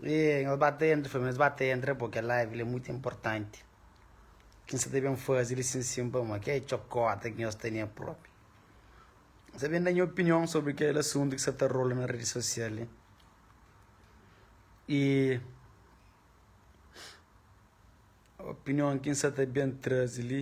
Êêê, nhos ba ta entra, nhos ba ta entra pô, kel live li é mutu inportanti. Kin sa ta ben faze li sin sin pamodi ki é txokota ki nhos tene propi. N ta ben da nha opinion sobri kel asuntu ki sa ta rola na redi sosial li. I. Opinion ki N sta ta ben traze li.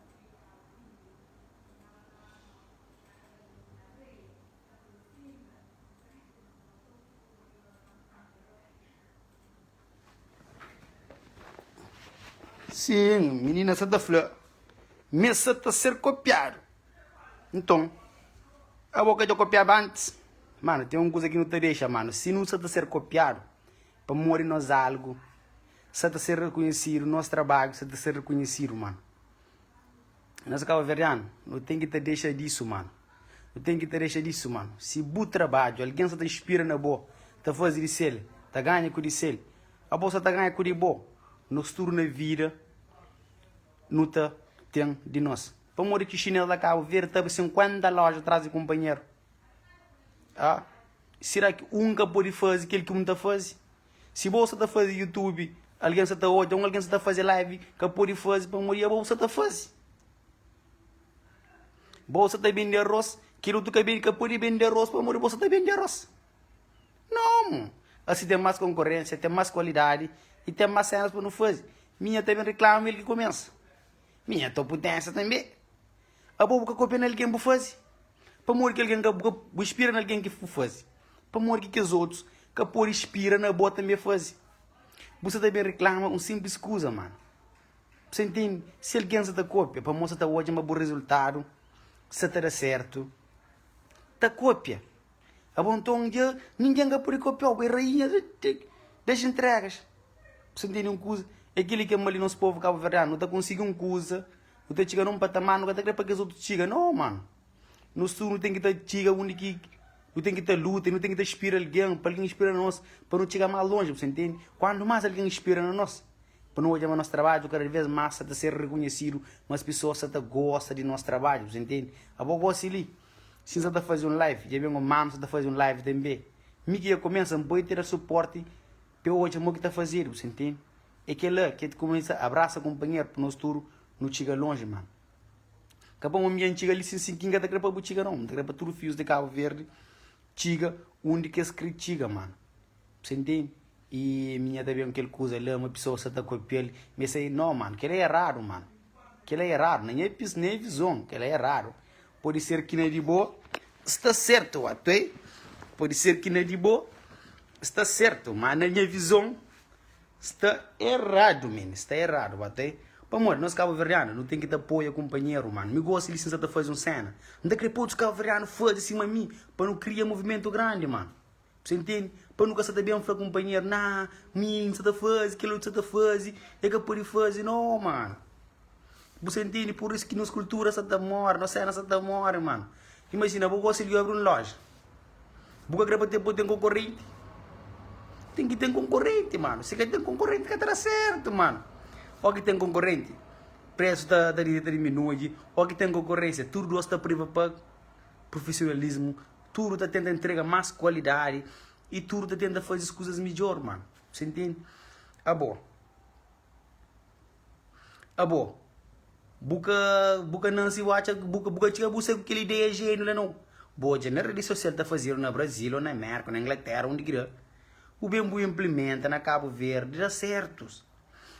Sim, menina sa ta fla Mes sa ta ser kopiadu Nton, abo ka dja kopiaba antis? Mano, ten un kuza ki nu ta dexa, mano Si nu sa ta ser kopiadu Pamodi nos algu sa ta ser rekonhesidu, nos trabadju sa ta ser rekonhesidu, mano. Nos kabaverdianu, no ten ki ta dexa disu, mano. No ten ki ta dexa disu, mano. Si bu trabadju algen sa ta inspira na bo, ta faze di sel, ta ganha ku di sel, abo sa ta ganha ku di bo. Nos tudu na vida no ta ten di nos. Pamodi ki chinês la Kabaverdi ta abri 50 loja tras di kunpanheru? Aa! Sera ki un ka pode faze kel ki un ta faze? Si bo sa ta faze YouTube, algen sa ta odja, un algen sa ta faze live ka pode faze pamodi abo bu sa ta faze. Bo sa ta bende arôs, kel otu ka ka pode bende arôs pamodi bo sa ta bende arôs. Nãu! Asi ten más konkorénsia, ten más kualidadi i ten más sénus pa nu faze. Mi nha ta ben reklama el ki kumesa. Mi nha ta oputénsia tanbe. Abo bu ka kopia na algen bu fazi, pamodi ki algen ka bu inspira na algen ki bu fazi, pamodi ki kes otus ka pode inspira na abo tanbe fazi. Bu sta ta ben riklama un sinplis kuza ma bu sta intende si algen sta ta kopia pamodi sta ta odja ma bu rizultadu sta ta da sertu ta kopia abo nton dja ningen ka pode kopiau bu é rainha das entregas bu sta intende un kuza é keli ki é mal di nos povu kabuverdianu nu ta konsigi un kuza. Nu ta txiga na un patamar nu ka ta krê pa kes otu txiga nau mano. Nos tudu nu ten ki ta txiga undi ki nu ten ki ta luta i nu ten ki ta inspira algen pa algen inspira nos pa nu txiga más lonji, bu ta intende? Kuantu más algen inspira na nos, pa nu odja ma nos trabadju kada vês más sa ta ser rekonhesidu, más pesoas sa ta gosta di nos trabadju, bu ta intende? Abo gósi li, si N sa ta faze un live, dja ben un manu sa ta faze un live tanbê, mi ki ka kumesa, N poi tera supórti Pe odja mo ki ta fazedu, bu sentemi? E kela ke ta kumesa abrasa kunpanheru pa nos tudu nu txiga lonji, man. Ka pa mo mi dja N txiga li sin sinti, N ka ta kre pa bu txiga non. N ta kre pa tudu fius de Kabu Verdi txiga undi ke es kre txiga, man. Bu sentemi? I mi dja ta ben kel kuza la ma pesoas sa ta kopial, mi ta sai, No, man, kela e eradu, man. Kela é raro na nha pis na é vizon kela é raro Pode ser ki na di bo sta sertu wa tué Pode ser ki na di bo sta sertu ma na nha vizon sta eradu men sta eradu wa tué Pamodi nos kabuverdianu nu ten ki ta apoia kunpanheru manu Mi gosi li si N sa ta faze un sena N ta kre pa otus kabuverdianu faze sima mi pa nu kria muvimentu grandi manu. Bu sa intende? Pa nu ka sa ta ben fla kunpanheru, Na, mi N sa ta faze, kel otu sa ta faze, el ka pode faze. No, mano. Bu sa intende? Pur isu ki nos kultura sa ta móre, nos sena sa ta móre, mano. Imajina, bo gosi di yobri un loja. Bu ka kre pa bo ten konkorenti? Ten ki ten konkorenti, mano. Si ka ten konkorenti, ka ta da sertu, mano. Óki ten konkorenti, presu ta diminui. Óki ten konkorensia, tur dôs ta privapag. Profesionalismu Tudu ta tenta entrega más kualidadi i tudu ta tenta faze es kuzas midjór, mano. Si ntende? Abo, abo, bu ka bu ka nase i bu atxa bu ka bu ka txiga bu sai ku kel ideia jéniu la, nau. Bu odja na redi sosial ta fazedu na Brazil ô na Mérka ô na Inglatera, undi ki da, bu ben bu inplimenta na Kabu Verdi, da sértus.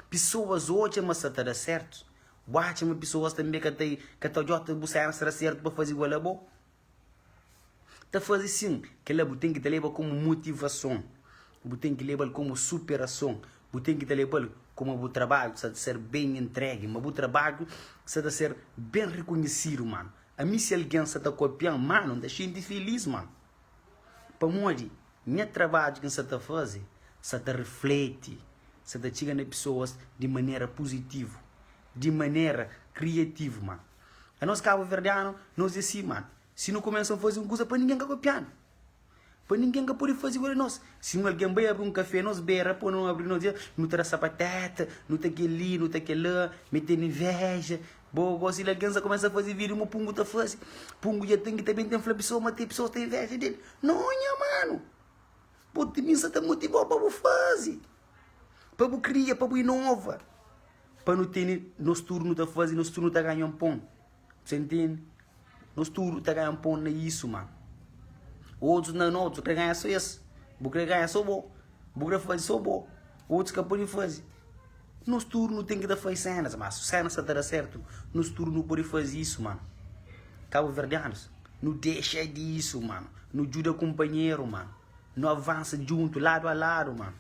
Pesoas odja ma sa ta da sértus. Bu atxa ma pesoas tanbê ka ta ka ta odja otus bu sénsa da sértu pa faze igual abo? Ta faze sin, kel-la bu ten ki ta leba komu motivason, bu ten ki leba-l komu superason, bu ten ki ta leba-l kuma bu trabadju sa ta ser ben entregi, ma bu trabadju sa ta ser ben rekonhesidu, mano. Ami, si algen sa ta kopia-m, mano, N ta xinti filís, mano, pamodi nha trabadju ki N sa ta faze sa ta rifleti, sa ta txiga na pesoas di manera puzitivu, di manera kriativu, mano. Anos kabuverdianu, nos é si, mano. Si nu kumesa un faze un kuza, pa ningen ka kopianu. Pa ningen ka pode faze igual di nos. Si un algen bai abri un kafé, nos bai ra pa nu abri, nos dja, nu ta da sapateta, nu ta kel-li, nu ta kel-la, mi tene inveja, bo gosi. Algen sa kumesa faze video, mo pungu ta faze, pungu dja ten ki ta ben ten fla pesoas ma te pesoas ten inveja del. Nho nha mano! Bo, mi sa ta motivau pa bu faze. Pa bu kria, pa bu inova Pa nu tene, nos tudu nu ta faze Nos tudu nu ta ganha un pon Sa ntende? Nos tudu ta ganha un pon na isu, mano Otus na no, otus kre ganha so es Bu kre ganha so bo Bu kre faze so bo Otus ka pode faze Nos tudu nu ten ki ta faze senas, ma si senas sa ta da sertu Nos tudu nu pode faze isu, mano Kabuverdianus Nu dexa di isu, mano Nu djuda kunpanheru, mano Nu avansa djuntu ladu a ladu ma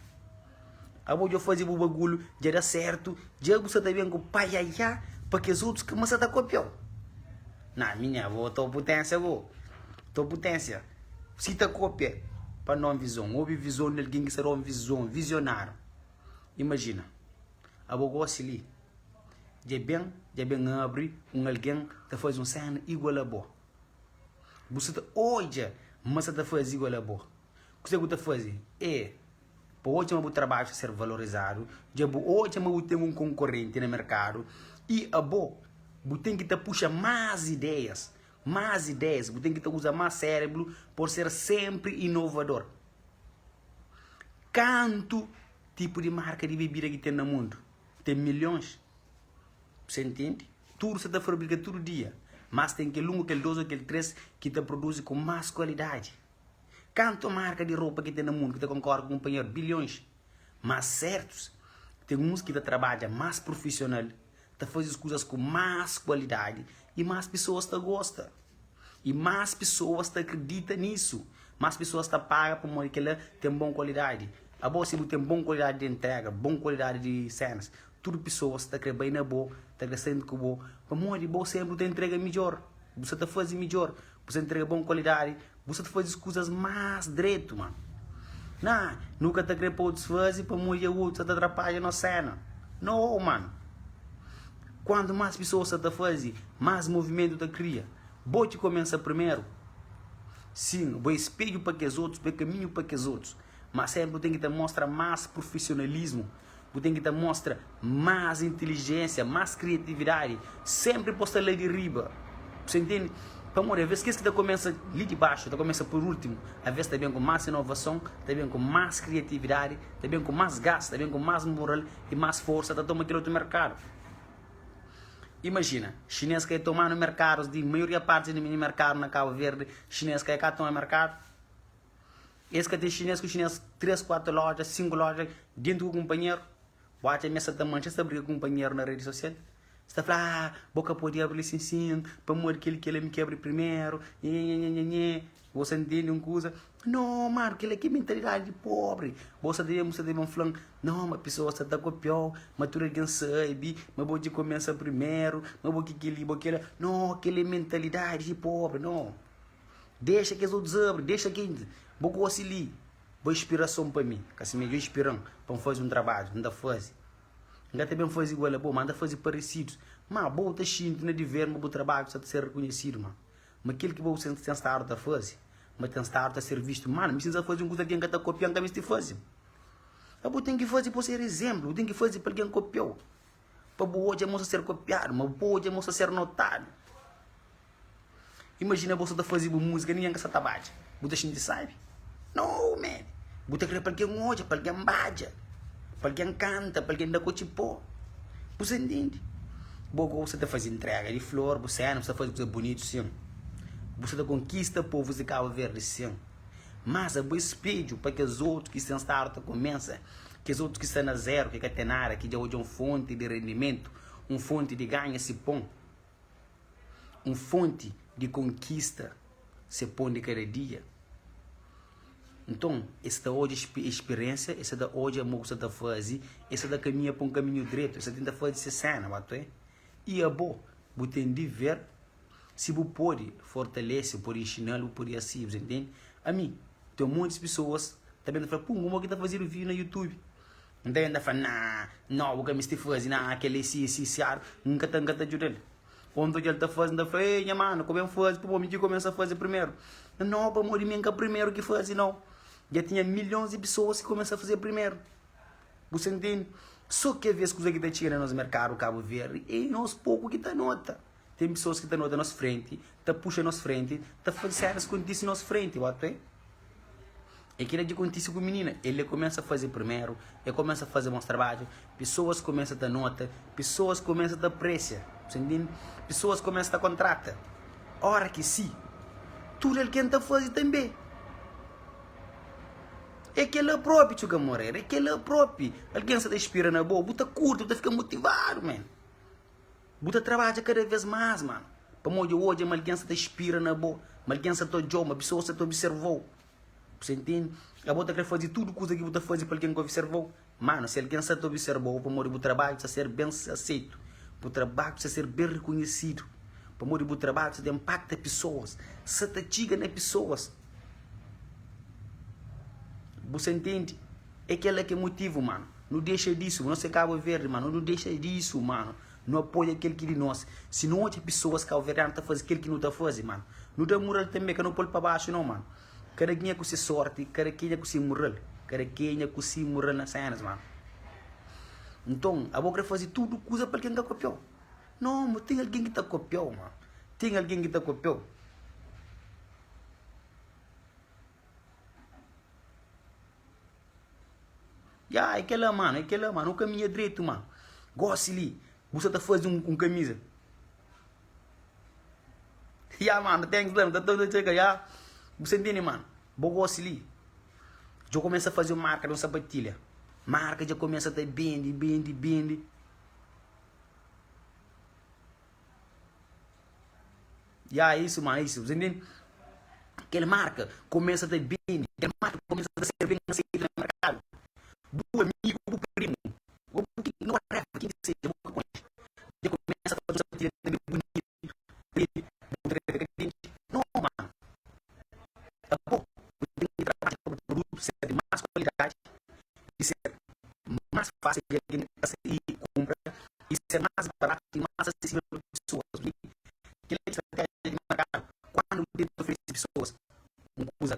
Abo dja faze bu bagulu dja da sertu dja bu sa ta ben ku paiaiá pa kes otus kamasa ta kopiau na mi nha vo to putensia bo to putensia si ta kopia pa non vizon obi vizon di algin ki sa ta un vizon vizionariu imajina abo gosi li dja ben dja ben abri un algin ta faze un sena igual abo. Bu sta ta odja ma sa ta faze igual a bo. Kuzê ki bu ta faze? É pa odja ma bu trabadju sta ser valorizadu, dja bu odja ma bu ten un konkorenti na merkadu i abo bu ten ki ta puxa más ideias, más ideias, bu ten ki ta uza más sérebru pa bu ser sénpri inovador. Kantu tipu di marka di bebida ki ten na mundu? Ten milhons Sen intendi Tudu sa ta fabrika tudu dia Mas ten kel un, kel dos, kel tres Ki ta produzi ku mas kualidadi Kantu marka di ropa ki ten na mundu Ki ta konkordi ku kunpanheru? Bilhons Mas sertus ten uns ki ta trabadja mas prufisional Ta fazi es kuzas ku mas kualidadi I mas pisoas ta gosta. I más pesoas ta kridita nisu, más pesoas ta paga pamodi kel-la ten bon kualidadi. Abo, si bu ten bon kualidadi di entréga, bon kualidadi di sénas, tudu pesoas ta krê bai na bo, ta krê sta ku bo, pamodi bo sénpri bu ta intrega midjór, bu sta ta faze midjór, bu sta ta intrega bon kualidadi, bu sta ta faze kuzas más dretu. Má, nã, nu ka ta krê pa otus faze pamodi é otus ki ta atrapadja nos séna. Nau, mano! Quantu mas pisoas sa ta fazi, mas movimentu ta kria. Bo ki komensa primeru. Sin, bo é spedju pa kes otus, bo é kaminhu pa kes otus. Mas senpri bu ten ki ta mostra mas profesionalismu, bu ten ki ta mostra mas intilijensia, mas kriatividadi. Senpri pos ta la di riba. Bse intendi? Pamodi aves kes ki ta komensa li di baxu, ta komensa pur ultimu, aves ta ben ku mas inovason, ta ben ku mas kriatividadi, ta ben ku mas gas, ta ben ku mas moral. y mas forsa ta toma kel otu merkadu. Imajina, xinês ka e tomanu merkadus di maioria parti di mini merkadu na Kabu Verdi, xinês ka e ka toma merkadu. Es ka ten xinês ku xinês, três, kuatu loja, sinku loja, dentu ku kunpanheru. Bu atxa ma es sa ta mantxa, es ta briga ku kunpanheru na redi sosial? Sta fla ah bo ka podi abri li sin sin pamodi kel ki el ami ki abri primeru nhenhenhenhenhenhe bo sa intendi un kuza no mano kila ki mentalidadi di pobri bo sa ta ben bo sa ta ben flan no ma pisoas ta ta kopiau ma tudu algin sabi ma bo ki kumesa primeru ma bo ki kili bo kila no kila é mentalidadi di pobri no dexa kes otus abri dexa ki bo gosi li bo inspirason pa mi kasi midjor inspiran pa n fazi un trabadju n ta fazi N ka ta ben faze igual a bo, má N ta faze paresidu. Má, bo ta xinti na diveru ma bu trabadju sta ta ser rekonhesidu, má ma kel ki bo sen ten stadu ta faze ma ten stadu ta ser vistu mal. N prsisa faze un kuza ki algen ka ta kopia, N ka meste faze. Má bo ten ki faze pa bu ser izénplu, bu ten ki faze pa algen kopia-u, pa bu odja ma bu sta ta ser kopiadu, ma bu odja ma bu sta ta ser notadu. Imajina bo sa ta faze bu múzika ningen ka sa ta badja, bu ta xinti sábi? Nau man! Bu ta krê pa algen odja, pa algen badja, pa algen kanta, pa algen da kotxi pô. Bu sa ntende? Bo gosi bu sa ta faze intréga di flor, bu séna, bu sa ta faze kuza bunitu sin. Bu sa ta konkista povus di Kabu Verdi sin. Má sa bo é spedju pa kes otu ki sen stadu ta kumesa, kes otu ki sta na zéru, ki ka ten nada, ki dja odja un fonti di rendimentu, un fonti di ganha si pon. Un fonti di konkista se pon di kada dia. Nton, es ta odja es spiriénsia, es sa ta odja mo ku sa ta faze, es sa ta kaminha pa un kaminhu dretu, es ta tenta faze se séna ba ta. I abo? Bu ten diver, si bu pode fortalese, bu pode inxina-l, bu pode asi-l, bu ta ntende? Ami, ten montis pesoas ta ben ta fla, Pum, kuma ki ta fazedu vídiu na Youtube? N ta inda fla, Nah, nau, bu ka misti fazi, nah, kel-li si, si, si ar, N ka ta, N ka ta djuda-l. Ô, N ta odja-l ta fazi, N ta fla, Ê, nha manu, ka ben fazi pamodi mi ki kumesa fazi primeru. N, Nau, pamodi mi N ka primeru ki fazi, nau. Dja tinha milhons di pesoas ki kumesa fazi primeru. Bu sta ntende? Sô ki, avês, kuza ki ta txiga na nos merkadu Kabuverdi, ê nos poku ki ta nota. Ten pesoas ki ta nota nos frenti, ta puxa nos frenti, ta faze séras kontise nos frenti. Bo ta wê? É kila ki kontise ku minina. El é kumesa faze primeru, el kumesa faze bons trabadju, pesoas kumesa ta nota, pesoas kumesa ta apresia. Bu sta ntende? Pesoas kumesa ta kontrata. Ora ki si, tudu algen ta faze tanbê. É kela propi, txeu kamoreru, é kela propi. Algen sta ta inspira na bo, bu ta kurti, bu ta fika motivadu, men. Bu ta trabadja kada vez más, mano, pamodi dja odja ma algen sta ta spira na bo, ma algen sta ta odja-u, ma pesoas sta ta observa-u. Bu sta intende? Abo ta krê faze tudu kuza ki bu ta faze pa algen ka observa-u? Mano, si algen sta ta observa-u, pamodi bu trabadju sta ser ben aseitu, bu trabadju sta ser ben rekonhesidu, pamodi bu trabadju sta ta inpakta pesoas, sta ta txiga na pesoas. Bu sta intende? É kel la ki é motivu, mano, nu dexa disu, nos é Cabo Verde, mano, nu dexa disu, mano, nu apoia kel ki di nos, si nu odja pisoas cabo-verdiano ta fazi kel ki nu ta fazi, mano, nu ta murrel tanbê, ka nu pol pa baxu nau, mano, kada kenha ku si sorti, kada kenha ku si murrel, kada kenha ku si murrel na senas, mano. Nton, abo kre fazi tudu kuza pa algen ka kopiau? Nau, ma ten algen ki ta kopiau, mano, ten algen ki ta kopiau. Ya, é kel-la, mano, é kel-la, mano. Nu kaminha dretu, mano. Gósi li, bu sta ta faze un kamiza. Ya, mano, thanks la. Nu ta ta txeka, ya. Bu sta ntende, mano? Bo gósi li. Dja kumesa faze un marka di un sapatilha. Marka dja kumesa ta bende, bende, bende. Ya isu ma isu, bu intende? Kel marka kumesa ta bini, kel marka kumesa ta ser ben aseita na merkadu. Bu amigu ô bu primu, ô bu kuzinu, whatever, ken ki seja, bu ka konxe, dja kumesa ta uza ti na meiu bunitu, dja bu ta krê fika kridenti? No, mano! Apo, bu ten ki trabadja pa bu produtu ser di más kualidadi, di ser más fásil di algen ta saí y kunpra y ser más barátu y más asesível pa pesoas duni kel-la ki sta ténha di markadu kandu nu tenta oferese pesoas un kuza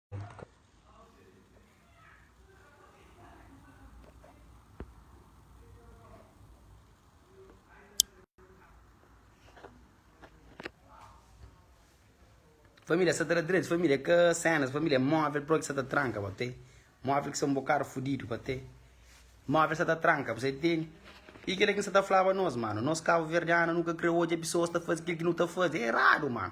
Família sa ta da dretu, família é ka sénas, família é móvel própi ki sa ta tranka pa tê. Móvel ki sa bo karu fudidu pa tê. Móvel sa ta tranka, bu sai tene. I kile ki N sa ta flaba nos, mano. Nos kabuverdianu nu ka krê odja pesoas ta faze kile ki nu ta faze. É eradu, mano.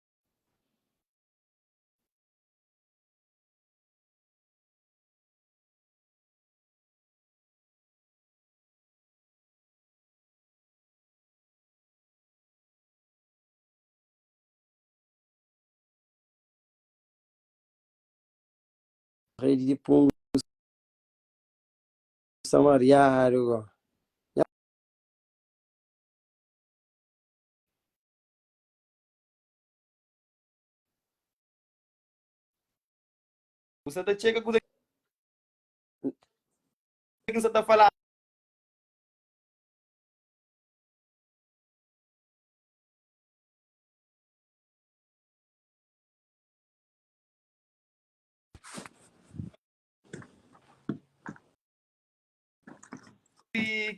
Redi di pungu sta mariadu go. Bu sa ta txeka kuza ki N sa ta fala.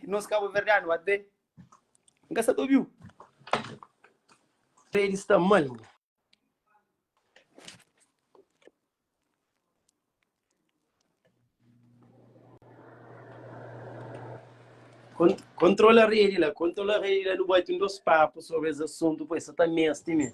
Nos kabuverdianu até N ka sa ta obi-u Fred sta mal nhu Kontrola redi la Kontrola redi la nu bati un dôs papu sobri es asuntu poi sa ta meste mê.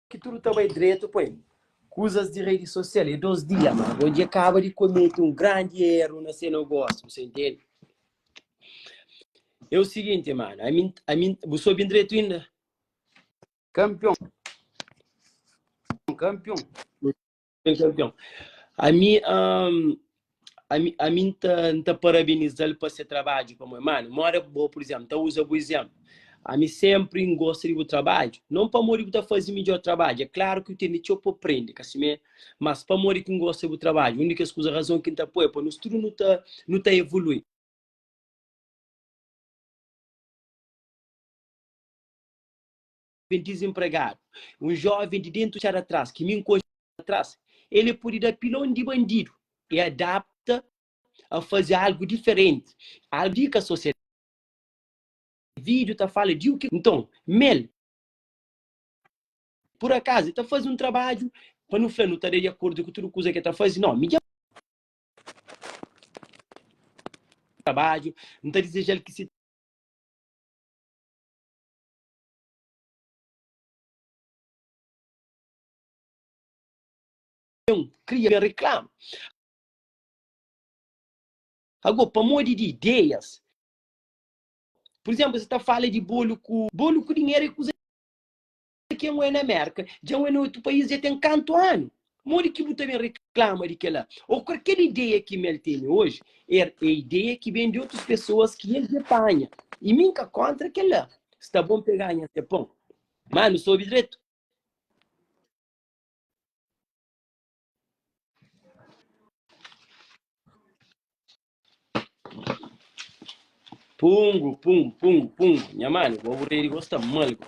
ki tudu ta bai dretu pa el. Kuzas di redi sosial é dôs dia, má bo dja kaba di komete un grandi éru na se nogósiu. Bu sta intende? É u siginti, mano, ami, ami, bu sta obi-m dretu inda? Kanpion, kanpion. Kel campeão. A mi, ahm, a mi, a mi n ta, n ta parabenizal pa se trabadju pamodi, mano, moda bo, pur izénplu, ta uza bu izénplu. A mi sénpri n gosta di bu trabadju, non pamodi bu ta faze midjór trabadju, é klaru ki bu ten di txeu pa prende, ka simé? Mas pamodi ki n gosta di bu trabadju, un di kes kuza, razon ki n ta poi é pa nos tudu nu ta, nu ta evolui. joven dizenpregadu, un joven di dentu txada tras ki mi nkonxi txada tras, el e podi da pilon di bandidu e adapta a fazi algu diferenti, algu di ka sosiadadi. Video ta fala di o ki? Nton, mel, pur akazu, e ta fazi un trabadju pa nu fla nu ta da di akordu ku tudu kuza ki e ta fazi? No, mi dja trabadju, n ta dizejal ki si. kria reklama. Agô, pamodi di ideias, pur izénplu, es ta fala di bolu ku. Bolu ku dinheru é kuza ki anwe na Mérka, dja anwe na otu país dja ten kantu anu? Modi ki bu ta ben reklama di kel-la? Ô kualker ideia ki mi el tene oji, er é ideia ki ben di otus pesoas ki el dja panha. I mi N ka kóntra kel-la. Sta bon pe ganha se pon. Má nu sta obi dretu? Pungu, pungu, pungu, pungu. Nha mane, bo aburedi, bo sta mal, bo.